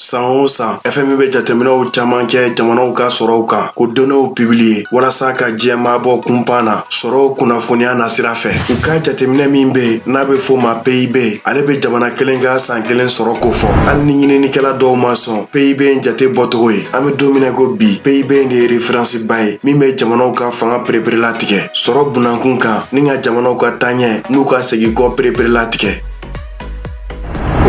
san o san fmi bɛ jateminɛw caman kɛ jamanaw ka sɔrɔw kan k'o donew pibiliye walasa ka diɲɛ maa bɔ kunpan na sɔrɔw kunnafoniya nasira fɛ u ka jateminɛ min be n'a be fɔ a ma pib ale be jamana kelen ka san kelen sɔrɔ kofɔ hali ni ɲininikɛla dɔw ma sɔn pib in jate bɔcogo ye an be don min na ko bi pib de ye referansiba ye min be jamanaw ka fanga pereperela tigɛ sɔrɔ bunda kunkan ni ka jamanaw ka taaɲɛ n'u ka segi kɔ pereperela tigɛ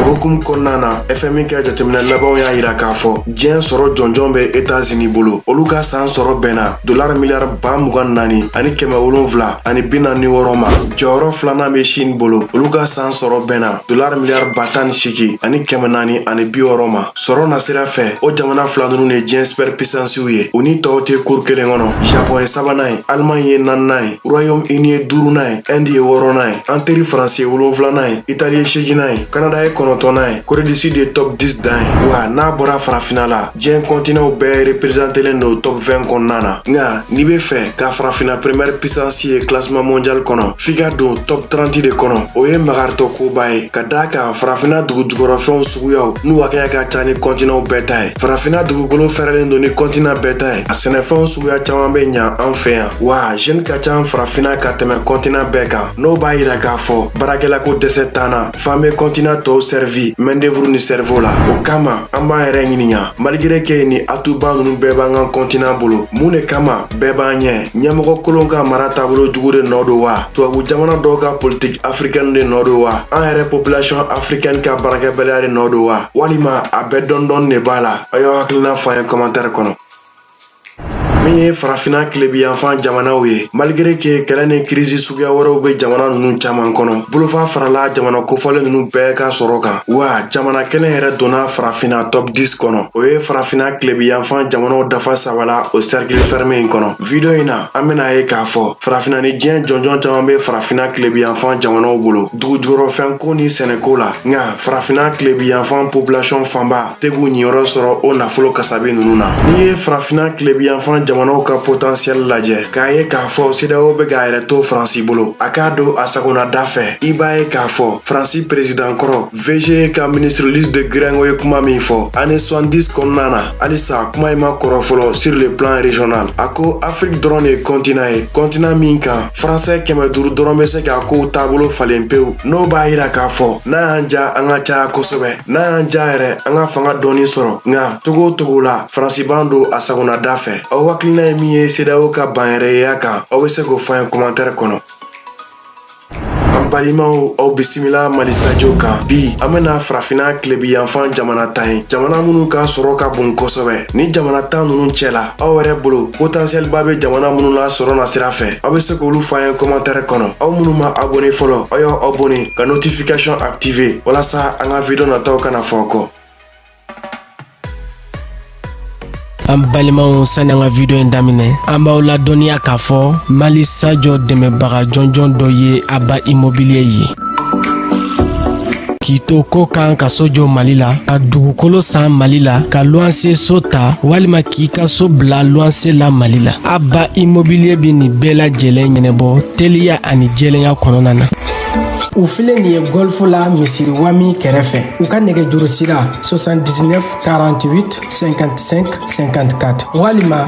hukumu kɔnɔna na fmi ka jateminɛ labanw y'a yira k'a fɔ diɲɛ sɔrɔ jɔnjɔn bɛ etazini bolo olu ka saan sɔrɔ bɛnna dolar miliyar ba mugan naani ani kɛmɛ wolonfila ani bi naani wɔɔrɔ ma jɔyɔrɔ filanan bɛ shin bolo olu ka saan sɔrɔ bɛnna dolar miliyar ba tan ni seegi ani kɛmɛ naani ani bi wɔɔrɔ ma sɔrɔ nasira fɛ o jamana fila ninnu ye diɲɛ supɛr pisansiw ye u ni tɔw tɛ kurun kelen kɔnɔ japɔn ye sabanan ye alemaɲi ye naaninan ye royaume uni ye duurunan ye ɛndi ye wɔɔrɔnan ye an teri faransi ye wolonfilanan ye itali ye seeginan ye kanada ye kɔnɔntɔnnan ye kore du sud ye top 10 dan ye wa n'a bɔra farafina la diɲɛ kɔntinanw bɛɛ reperezantelen do top 20 kɔnɔna na nka n'i be fɛ ka farafina primɛr pisansi ye klasiman mondial kɔnɔ f'i ka don top 30 de kɔnɔ o ye magaritɔ koba ye ka d'a kan farafina dugu jukɔrɔfɛnw suguyaw n'u hakɛya ka ca ni kɔntinanw bɛɛ ta ye farafina dugukolo fɛrɛlen do ni kɔntinan bɛɛ ta ye a sɛnɛfɛnw suguya caaman be ɲa an fɛ yan wa zɛni ka ca farafina ka tɛmɛ kɔntinan bɛɛ kan n'o b'a yira k'a fɔ baarakɛlako dɛsɛ t'an na f'an be kɔntinan tɔɔw sɛrivi mɛndevuru ni sɛrivo la o kama an b'an yɛrɛ ɲininka maligire ke ye ni atuba nunu bɛɛ b'an ka kɔntinan bolo mun ne kama bɛɛ b'an ɲɛ ɲɛmɔgɔ kolon ka mara taabolo jugu de nɔɔ do wa tubabu jamana dɔw ka politiki afrikɛni de nɔɔ do wa an yɛrɛ popilasiyɔn afrikɛni ka baarakɛbaliya de nɔɔ do wa walima a bɛɛ dɔɔni dɔɔni ne b'a la a y'aw hakilina fɔ an ye kɔmantɛri kɔnɔ min ye farafina kilebiyanfan jamanaw ye maligere ke kɛlɛ ni kirisi suguya wɛrɛw be jamana nunu caaman kɔnɔ bolofa farala jamana kofɔlen nunu bɛɛ ka sɔrɔ kan wa jamana kelen yɛrɛ donna farafina top 10 kɔnɔ o ye farafina kilebiyanfan jamanaw dafa saba la o sɛrikili fɛrɛme in kɔnɔ vidiyo in na an ben'a ye k'a fɔ farafina ni diɲɛ jɔnjɔn caaman be farafina kilebiyanfan jamanaw bolo dugu jukɔrɔfɛnko ni sɛnɛko la nka farafina kilebiyanfan popilasiyɔn fanba tɛ k'u niyɔrɔ sɔrɔ o nafolo kasabi nunu na n'i ye farafina kilebiyanfan jamanaw ka potansiyɛli lajɛ k'a ye k'a fɔ sedeyawo be k'a yɛrɛ to faransi bolo a k'a don a sagona da fɛ i b'a ye k'a fɔ faransi perezidan kɔrɔ vge ka ministre louis de guiringaud ye kuma min fɔ ane 70 kɔnɔna na halisa kuma in ma kɔrɔ fɔlɔ sur le plan regional a ko afrik dɔrɔn de ye kɔntinan ye kɔntinan min kan faransɛ kɛmɛ duru dɔrɔn be se k'a kow taabolo falen pewu n'o b'a yira k'a fɔ n'a y'an diya an ka caya kosɛbɛ n'a y'an ja yɛrɛ an ka fanga dɔɔni sɔrɔ nka cogo o cogo la faransi b'an don a sagonada fɛ aw hakilina ye min ye sedawo ka banyɛrɛyeya kan aw be se k'o fɔ an ye kɔmantɛrɛ kɔnɔ an balimaw aw bisimila mali sajo kan bi an bena farafina kilebi yanfan jamana tan ye jamana minnu ka sɔrɔ ka bon kosɛbɛ ni jamana tan nunu cɛla aw yɛrɛ bolo potentiɛlba be jamana minnu la sɔrɔ nasira fɛ aw be se k'olu fɔ an ye kɔmantɛrɛ kɔnɔ aw minnu ma abone fɔlɔ aw y'aw abone ka notification active walasa an ka video nataw kana fɔ kɔ an balimaw sani an ka video in daminɛ an b'aw ladɔnniya k'a fɔ mali sajo dɛmɛbaga jɔnjɔn dɔ ye aba immobilier ye k'i to kɔkan ka so jɔ mali la ka dugukolo san mali la ka luwanse so ta walima k'i ka so bila luwanse la mali la aba immobilier bɛ nin bɛɛ lajɛlen ɲɛnabɔ teliya ani jɛlenya kɔnɔna na u filɛ nin ye gɔlfu la misiri wami kɛrɛfɛ u ka nɛgɛjurusira 79 48 55 54 walima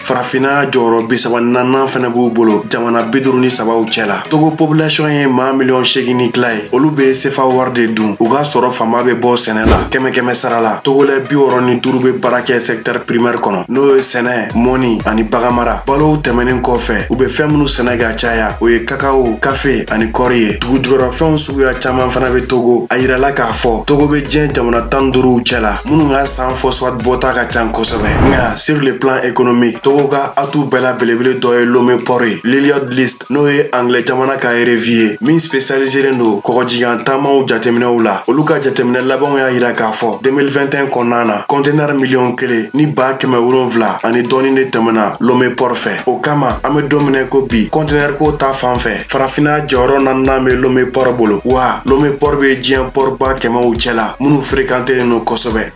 farafinna jɔyɔrɔ bi saba ni naaninan fɛnɛ b'u bolo jamana bi duru ni sabaw cɛ la togo population ye maa miliyɔn segin ni tila ye olu be sefa wari de dun u ka sɔrɔ fanba be bɔ sɛnɛ la kɛmɛ kɛmɛ sara la togolɛ bi wɔrɔ ni duru be baara kɛ sɛktɛr primɛr kɔnɔ n'o ye sɛnɛ mɔnni ani baganmara balow tɛmɛnin kɔfɛ u be fɛɛn minw sɛnɛ ka caya o ye kakawo kafe ani kɔri ye dugujukɔrɔfɛnw suguya caaman fana be togo a yirala k'a fɔ togo be diɲɛ jamana tan duuruw cɛ la minnu ka san fɔsfat bɔta ka can kosɛbɛ nka sur le plan économique togo ka atu bɛɛ la belebele dɔ ye lome pɔr ye lloyd's list n'o ye anglɛ jamana ka revi ye min spesialiselen don kɔgɔjigan taamaw jateminɛw la olu ka jateminɛ labanw y'a yira k'a fɔ 2021 kɔnɔna na kɔntenɛr miliyɔn kelen ni baa kɛmɛ wolonfila ani dɔɔni de tɛmɛna lome pɔr fɛ o kama an be don min na i ko bi kɔntenɛr ko ta fan fɛ farafinna jɔyɔrɔ naaninan bɛ lome pɔrɔ bolo wa lome pɔrɔ bɛ diɲɛ pɔrɔba kɛmɛw cɛla minnu ferekantelen don kosɛbɛ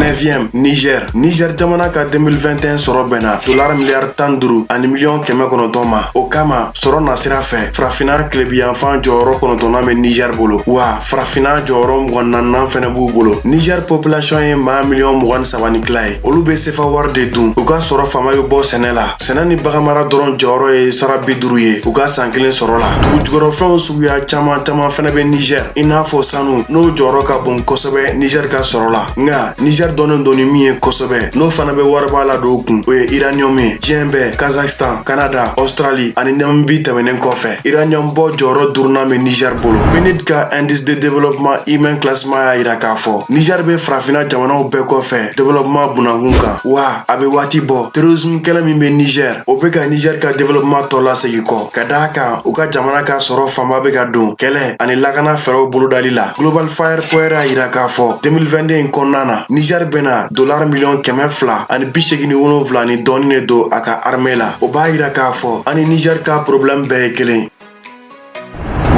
9 Niger Niger jamana ka 2021 sɔrɔ bɛnna dolar miliyari tan duuru ani miliyɔn kɛmɛ kɔnɔntɔn ma o kama sɔrɔ nasira fɛ farafinna kilebiyanfan jɔyɔrɔ kɔnɔntɔnnan bɛ Niger bolo wa farafinna jɔyɔrɔ mugan ni naaninan fɛnɛ b'u bolo Niger population ye maa miliyɔn mugan ni saba ni tila ye olu bɛ sefa wari de dun u ka sɔrɔ fanba bɛ bɔ sɛnɛ la sɛnɛ ni baganmara dɔrɔn jɔyɔrɔ ye sara bi duru ye u ka saan kelen sɔrɔ la dugujukɔrɔfɛnw suguya caaman caaman fɛnɛ be nizɛr i n'a fɔ sanu n'o jɔyɔrɔ ka bon kosɛbɛ nizɛr ka sɔrɔ la nka nizɛr dɔnnen don ni min ye kosɛbɛ n'o fana be wariba ladon u kun o ye iraniyɔm ye diɲɛ bɛɛ kazakstan kanada ɔstrali ani namibi tɛmɛnen kɔfɛ iraniyɔm bɔ jɔyɔrɔ durunan be nizɛr bolo pnud ka indice de développement humain classement y'a yira k'a fɔ nizɛr be farafina jamanaw bɛɛ kɔfɛ développement bunankun kan wa a bɛ waati bɔ terrorism kɛlɛ min bɛ niger o bɛ ka niger ka developema tɔ lasegin kɔ ka d'a kan u ka jamana ka sɔrɔ fanba bɛ ka don kɛlɛ ani lakana fɛɛrɛw bolodali la global fire power y'a yira k'a fɔ 2022 in kɔnɔna na niger bɛna dolar miliyɔn kɛmɛ fila ani bi segin ni wolonfila ni dɔɔni de don a ka arme la o b'a yira k'a fɔ an ni niger ka problɛmu bɛɛ ye kelen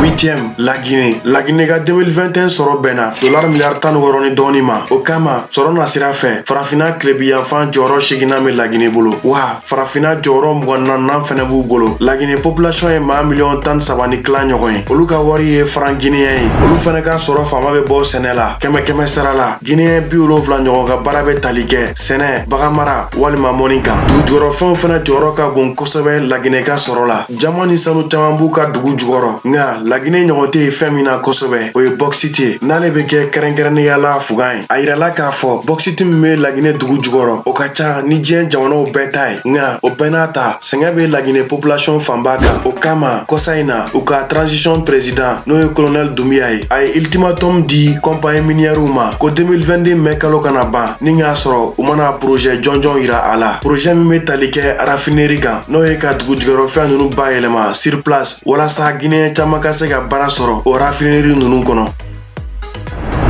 huitième la Guinée la Guinée ka 2021 sɔrɔ bɛnna dolar miliyari tan ni wɔɔrɔ ni dɔɔni ma o kama sɔrɔ na sira fɛ farafina kilebiyanfan jɔyɔrɔ seginnan bɛ lagine bolo wa farafina jɔyɔrɔ mugan naaninan fɛnɛ b'u bolo lagine population ye maa miliyɔn tan saba ni kila ɲɔgɔn ye olu ka wari ye faran gineyɛn ye olu fɛnɛ ka sɔrɔ fanba bɛ bɔ sɛnɛ la kɛmɛ kɛmɛ sara la gineyɛn bi wolonfila ɲɔgɔn ka baara bɛ tali kɛ sɛnɛ baganmara walima mɔni kan dugujukɔrɔfɛnw fɛnɛ jɔyɔrɔ ka bon kosɛbɛ lagine ka sɔrɔ la jaman ni sanu caman b'u ka dugu jukɔrɔ nka laginɛ ɲɔgɔn tɛ ye fɛn min na kosɛbɛ o ye bɔkisiti ye n'ale bɛ kɛ kɛrɛnkɛrɛnnenya la fugan ye a yirala k'a fɔ bɔkisiti min bɛ laginɛ dugu jukɔrɔ o ka ca ni diɲɛ jamanaw bɛɛ ta ye nka o bɛɛ n'a ta sɛgɛn bɛ laginɛ population fanba kan o kama kɔsa in na u ka transition president n'o ye kolonɛl dumbuya ye a ye ultimatum di kɔnpaɲi miniyɛriw ma ko 2022 mɛ kalo kana ban ni k'a sɔrɔ u ma na porozɛ jɔnjɔn yira a la porozɛ min bɛ tali kɛ rafineri kan n'o ye ka dugujukɔrɔfɛn ninnu bayɛlɛma sur place walasa guinéen caman ka se ka baara sɔrɔ o rafineri ninnu kɔnɔ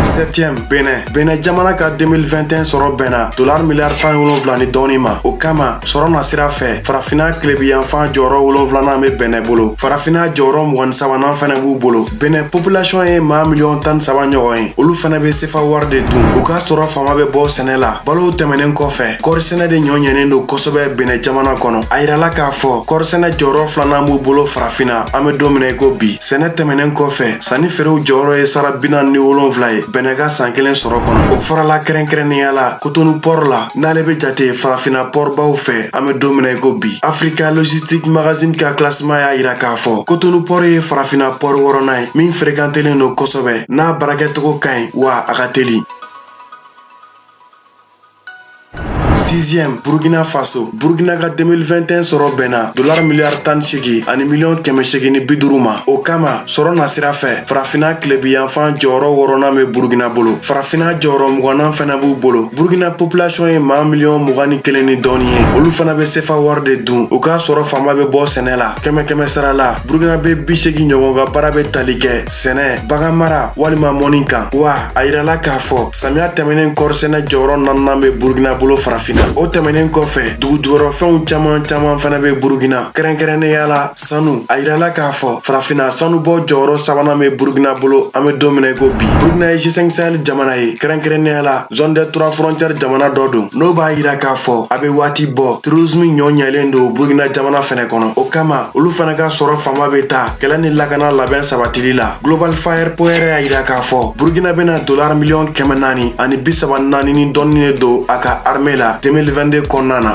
septième benɛ benɛ jamana ka 2021 sɔrɔ bɛnna dolar miliyari tan wolonfila ni dɔɔni ma o kama sɔrɔ na sira fɛ farafina kilebiyanfan jɔyɔrɔ wolonfilanan be benɛ bolo farafina jɔyɔrɔ mugan ni sabanan fɛnɛ b'u bolo benɛ population ye maa miliyɔn tan saba ɲɔgɔn ye olu fɛnɛ be sefa wari de dun u ka sɔrɔ fanba be bɔ sɛnɛ la balow tɛmɛnen kɔfɛ kɔrisɛnɛ de nɔ ɲɛnen don kosɛbɛ benɛ jamana kɔnɔ a yirala k'a fɔ kɔrisɛnɛ jɔyɔrɔ filanan b'u bolo farafina an be don min na i ko bi sɛnɛ tɛmɛnen kɔfɛ sannifeerew jɔyɔrɔ ye sara bi naani ni wolonfila ye benɛ ka san kelen sɔrɔ kɔnɔ o farala kɛrɛnkɛrɛnnenya la kotonu pɔr la n'ale be jate farafina pɔrbaw fɛ an be don min na i ko bi afrika logistique magazine ka klasima y'a yira k'a fɔ kotonu pɔr ye farafina pɔr wɔrɔnan ye min ferekantelen don kosɛbɛ n'a baarakɛcogo ka ɲi wa a ka teli sixième burkina faso burkina ka 2021 sɔrɔ bɛnna dolar miliyari tan ni segi ani miliyɔn kɛmɛ segi ni bi duru ma o kama sɔrɔ na sira fɛ farafina kilebiyanfan jɔyɔrɔ wɔrɔnan be burkina bolo farafina jɔyɔrɔ mugannan fɛnɛ b'u bolo burkina population ye maa miliyɔn mugan ni kelen ni dɔɔni ye olu fana be sefa wari de dun u ka sɔrɔ fanba be bɔ sɛnɛ la kɛmɛ kɛmɛ sara la burukinabe bi segin ɲɔgɔn ka baara be tali kɛ sɛnɛ baganmara walima mɔni kan wa a yirala k'a fɔ samiya tɛmɛnen kɔrisɛnɛ jɔyɔrɔ naaninan be burukina bolo farafina o tɛmɛnen kɔfɛ dugu jukɔrɔ fɛnw caman caman fana be burukina kɛrɛnkɛrɛnnenya la sanu a yirala k'a fɔ farafina sanubɔ jɔyɔrɔ sabanan be burukina bolo an be don min na ko bi burukina ye g5 sahel jamana ye kɛrɛnkɛrɛnnenya la zone des trois frontières jamana dɔ don n'o b'a yira k'a fɔ a be waati bɔ terorisimu ɲɔ ɲɛlen don burukina jamana fɛnɛ kɔnɔ o kama olu fana ka sɔrɔ fanba bɛ taa kɛlɛ ni lakana labɛn sabatili la global fire power y'a yira k'a fɔ burkina bɛna dolar miliyɔn kɛmɛ naani ani bi saba naani ni dɔɔni de don a ka arme la 2022 kɔnɔna na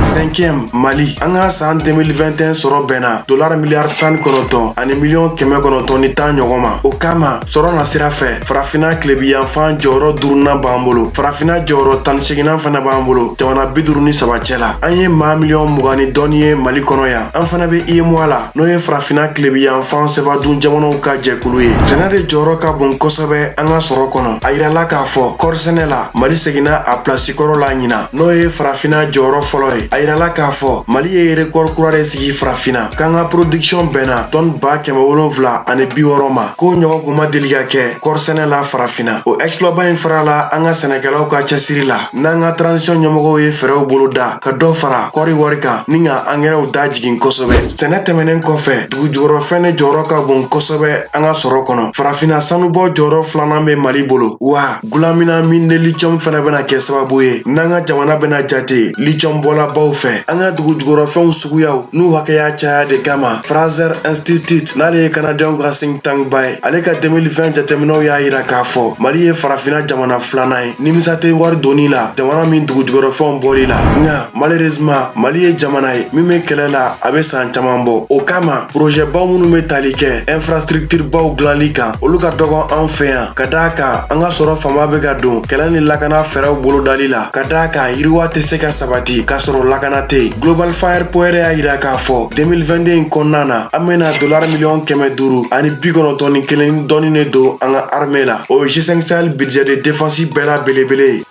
cinquième mali an ka san 2021 sɔrɔ bɛnna dolar miliyari tan ni kɔnɔntɔn ani miliyɔn kɛmɛ kɔnɔntɔn ni tan ɲɔgɔn ma o kama sɔrɔ na sira fɛ farafina tilebiyanfan jɔyɔrɔ durunan b'an bolo farafina jɔyɔrɔ tan ni seginan fana b'an bolo jamana bi duru ni saba cɛ la an ye maa miliyɔn mugan ni dɔɔni ye mali kɔnɔ yan an fana bɛ uemoa la n'o ye farafina tilebiyanfan sefadun jamanaw ka jɛkulu ye sɛnɛ de jɔyɔrɔ ka bon kosɛbɛ an ka sɔrɔ kɔnɔ a yirala k'a fɔ kɔrisɛnɛ la mali seginna a pilasi kɔrɔ la ɲina n'o ye farafina jɔyɔrɔ fɔlɔ ye a yirala k'a fɔ mali ye rekɔri kura de sigi farafina k'an ka production bɛnna tɔni ba kɛmɛ wolonfila ani bi wɔɔrɔ ma K'o ɲɔgɔn kun ma deli ka kɛ kɔɔrisɛnɛ la farafinna o exploitba in farala an ka sɛnɛkɛlaw ka cɛsiri la n'an ka transition ɲɛmɔgɔw ye fɛɛrɛw bolo da ka dɔ fara kɔɔri wari kan ni ka angɛrɛw da jigin kosɛbɛ sɛnɛ tɛmɛnen kɔfɛ dugu jukɔrɔ fɛn de jɔyɔrɔ ka bon kosɛbɛ an ka sɔrɔ kɔnɔ farafinna sanubɔ jɔyɔrɔ filanan bɛ mali bolo wa Gulamina mine de lithium fana bɛna kɛ sababu ye n'an ka jamana bɛna jate lithium bɔlabaw fɛ an ka dugu jukɔrɔfɛnw suguyaw n'u hakɛya caya de kama Fraser Institute n'ale ye Kanadɛnw ka think tank ba ye ale ka 2020 jateminɛw y'a yira k'a fɔ Mali ye farafinna jamana filanan ye nimisa tɛ wari donni la jamana min dugu jukɔrɔfɛnw bɔli la nka malheureusement Mali ye jamana ye min bɛ kɛlɛ la a bɛ san caman bɔ o kama projet baw minnu bɛ tali kɛ infrastructure baw dilanli kan olu ka dɔgɔ an fɛ yan ka d'a kan an ka sɔrɔ fanba bɛ ka don kɛlɛ ni lakana fɛɛrɛw bolodali la ka d'a kan yiriwa tɛ se ka sabati k'a sɔrɔ lakana tɛ yen global fire power y'a yira k'a fɔ 2022 in kɔnɔna na an bɛna dolar miliyɔn kɛmɛ duuru ani bi kɔnɔntɔn ni kelen ni dɔɔni ne don an ka arme la o ye g5 sahel budget de défense bɛɛ la belebele ye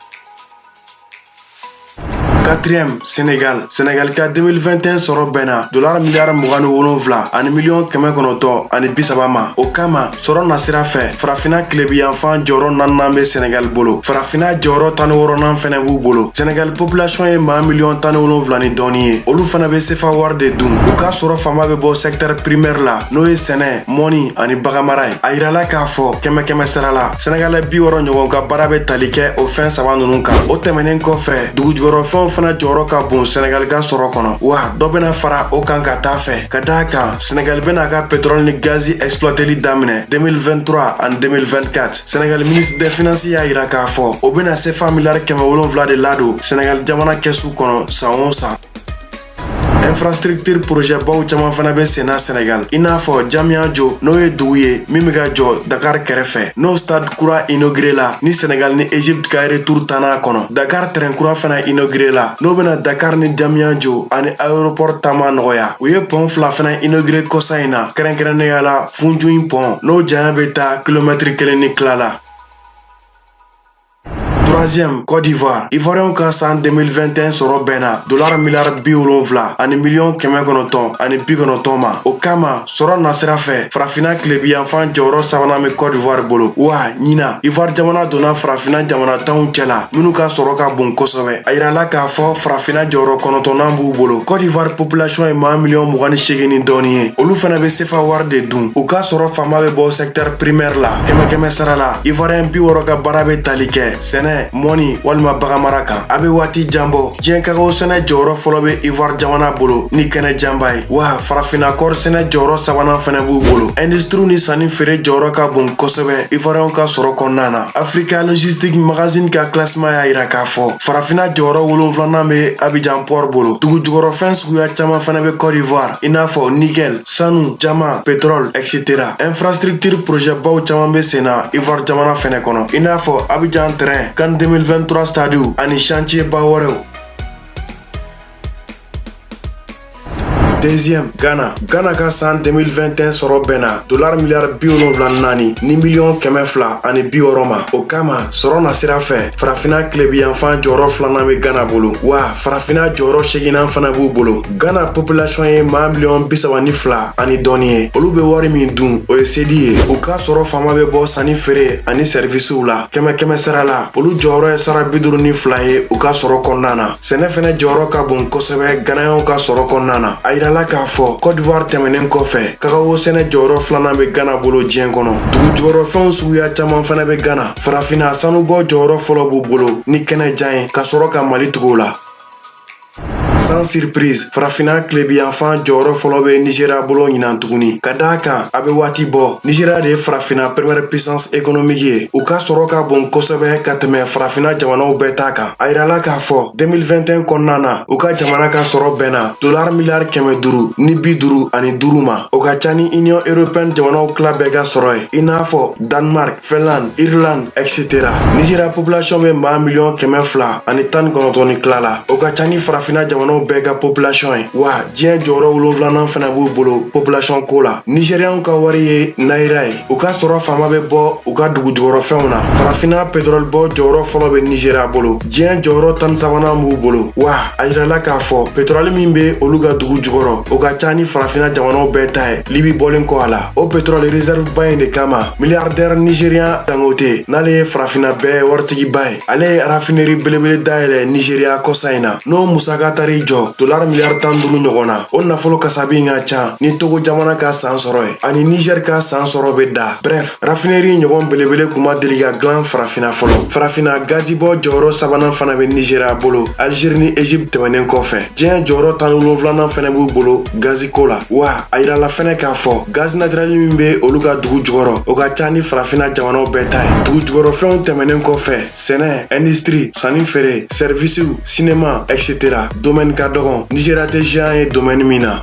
quatrième Sénégal Sénégal ka 2021 sɔrɔ bɛnna dolara miliyari mugan ni wolonfila ani miliyɔn kɛmɛ kɔnɔntɔn ani bi saba ma o kama sɔrɔ na sira fɛ farafina kilebiyanfan jɔyɔrɔ naninan bɛ Sénégal bolo farafina jɔyɔrɔ tan ni wɔrɔnan fɛnɛ b'u bolo Sénégal population ye maa miliyɔn tan ni wolonfila ni dɔɔni ye olu fana bɛ sefa wari de dun u ka sɔrɔ fanba bɛ bɔ secteur primaire la n'o ye sɛnɛ mɔni ani baganmara ye a yirala k'a fɔ kɛmɛ kɛmɛ sara la sɛnɛgalɛ bi wɔrɔ ɲɔgɔn ka baara bɛ tali kɛ o fɛn saba nunu kan o tɛmɛnen kɔfɛ dugujukɔrɔfɛnw fana jɔyɔrɔ ka bon sɛnɛgali ka sɔrɔ kɔnɔ wa dɔ bena fara o kan ka taa fɛ ka d'a kan sɛnɛgali bena ka petrɔli ni gazi ɛksplwateli daminɛ 2023 ani 2024 sɛnɛgali ministre des finances y'a yira k'a fɔ o bena sefa miliyari kɛmɛ wolonfila de ladon sɛnɛgali jamana kɛsu kɔnɔ san o san infrastructure projet baw caman fana bɛ senna Sɛnɛgali i n'a fɔ Diamniadio n'o ye dugu ye min bɛ ka jɔ Dakar kɛrɛfɛ n'o stade kura inauguré la ni Sɛnɛgali ni Egypte ka retour tanna a kɔnɔ Dakar train kura fana inauguré la n'o bɛna Dakar ni Diamniadio ani aéroport taama nɔgɔya u ye pont fila fana inauguré kɔsa in na kɛrɛnkɛrɛnnenya la Foundiougne pont n'o janya bɛ taa kilomɛtiri kelen ni tila la troisième Côte d'Ivoire Ivoiriyɛnw ka san 2021 sɔrɔ bɛnna dolara miliyari bi wolonfila ani miliyɔn kɛmɛ kɔnɔntɔn ani bi kɔnɔntɔn ma o kama sɔrɔ nasira fɛ farafina tilebiyanfan jɔyɔrɔ sabanan bɛ Côte d'Ivoire bolo wa ɲina Ivoire jamana donna farafina jamana tanw cɛla minnu ka sɔrɔ ka bon kosɛbɛ a yirala k'a fɔ farafina jɔyɔrɔ kɔnɔntɔnnan b'u bolo Côte d'Ivoire population ye maa miliyɔn mugan ni seegin ni dɔɔni ye olu fana bɛ sefa wari de dun u ka sɔrɔ fanba bɛ bɔ secteur primaire la kɛmɛkɛmɛ sara la ivoiriyɛn bi wɔrɔ ka baara bɛ tali kɛ sɛnɛ mɔni walima baganmara kan a bɛ waati jan bɔ diɲɛ kakaw sɛnɛ jɔyɔrɔ fɔlɔ bɛ ivoire jamana bolo ni kɛnɛ janba ye wa farafinna kɔɔri sɛnɛ jɔyɔrɔ sabanan fɛnɛ b'u bolo industiriw ni sanni feere jɔyɔrɔ ka bon kosɛbɛ ivoiriyɛnw ka sɔrɔ kɔnɔna na africa logistique magazine ka classement y'a yira k'a fɔ farafinna jɔyɔrɔ wolonfilanan bɛ abijan port bolo dugujukɔrɔfɛn suguya caman fɛnɛ bɛ cote d'ivoire i n'a fɔ nickel sanu diamant pétrole etc infrastructure projet baw caman be senna ivoire jamana fɛnɛ kɔnɔ i n'a fɔ abijan train CAN 2023 stadiw ani chantier ba wɛrɛw deuxième ghana ghana ka san 2021 sɔrɔ bɛnna dolar miliyari bi wolonfila ni naani ni miliyɔn kɛmɛ fila ani bi wɔrɔ ma o kama sɔrɔ nasira fɛ farafina kilebiyanfan jɔyɔrɔ filanan bɛ ghana bolo wa farafina jɔyɔrɔ seeginnan fana b'u bolo Gana population ye maa miliyɔn bi saba ni fila ani dɔɔni ye olu be wari min dun o ye sedi ye u ka sɔrɔ fanba be bɔ sanni feere ani sɛrivisiw la kɛmɛ kɛmɛ sara la olu jɔyɔrɔ ye sara bi duuru ni fila ye u ka sɔrɔ kɔnɔna na sɛnɛ fɛnɛ jɔyɔrɔ ka bon kosɛbɛ ganayɛnw ka sɔrɔ kɔnɔna na a yirala k'a fɔ kɔdivuwari tɛmɛnen kɔfɛ kakawo sɛnɛ jɔyɔrɔ filanan be gana bolo diɲɛ kɔnɔ dugujukɔrɔfɛnw suguya caman fɛnɛ be gana farafina sanubɔ jɔyɔrɔ fɔlɔ b'u bolo ni kɛnɛ jan ye ka sɔrɔ ka mali tugu u la Sans surprise, Farafina kilebiyanfan jɔyɔrɔ fɔlɔ bɛ Nigeria bolo ɲinan tuguni. Ka d'a kan, a bɛ waati bɔ. Nigeria de ye Farafina première puissance économique ye. U ka sɔrɔ ka bon kosɛbɛ ka tɛmɛ Farafina jamanaw bɛɛ ta kan. A yirala k'a fɔ 2021 kɔnɔna na, u ka jamana ka sɔrɔ bɛnna dollars miliyari kɛmɛ duuru ni bi duuru ani duuru ma. O ka ca ni Union européenne jamanaw tila bɛɛ ka sɔrɔ ye, i n'a fɔ Danemark, Finlande, Irlande, etc. Nizeriya population bɛ maa miliyɔn kɛmɛ fila ani tan ni kɔnɔntɔn ni tila la. O ka ca ni farafina jamanaw bɛɛ ka population ye. Wa diɲɛ jɔyɔrɔ wolonwulanan fana b'u bolo population ko la. Nizeriyanw ka wari ye naira ye. U ka sɔrɔ faama bɛ bɔ u ka dugu jukɔrɔfɛnw na. Farafina petrɔli bɔ jɔyɔrɔ fɔlɔ bɛ Nizeriya bolo. Diɲɛ jɔyɔrɔ tan ni sabanan b'u bolo. Wa a yirala k'a fɔ petrɔli min bɛ olu ka dugu jukɔrɔ, o ka ca ni farafina jamanaw bɛɛ ta ye, Libi bɔlen kɔ a la. o petrɔli reserve ba in de kama miliyardɛr nigerian dangote n'ale ye farafina bɛɛ waritigiba ye ale ye rafineri belebele dayɛlɛ nigeriya kɔsa in na n'o musaka taar'i jɔ dolar miliyar tan duuru ɲɔgɔn na o nafolo kasabi ka can ni togo jamana ka saan sɔrɔ ye ani nigɛr ka saan sɔrɔ be da brɛf rafineri ɲɔgɔn belebele kun ma deli ka glan farafina fɔlɔ farafina gazibɔ jɔyɔrɔ sabanan fana be nigeriya bolo algeri ni egypte tɛmɛnen kɔfɛ diɲɛ jɔyɔrɔ tan ni wolonfilanan fɛnɛ b'u bolo gaziko la wa a yirala fɛnɛ k'a fɔ gazi natirɛli min be olu ka dugu jukɔrɔ o ka ca ni farafina jamanaw bɛɛ ta ye dugu jukɔrɔfɛnw tɛmɛnen kɔfɛ sɛnɛ indistri sanni feere sɛrivisiw sinema etc domɛni ka dɔgɔn nizeriya tɛ ziyan ye domɛni min na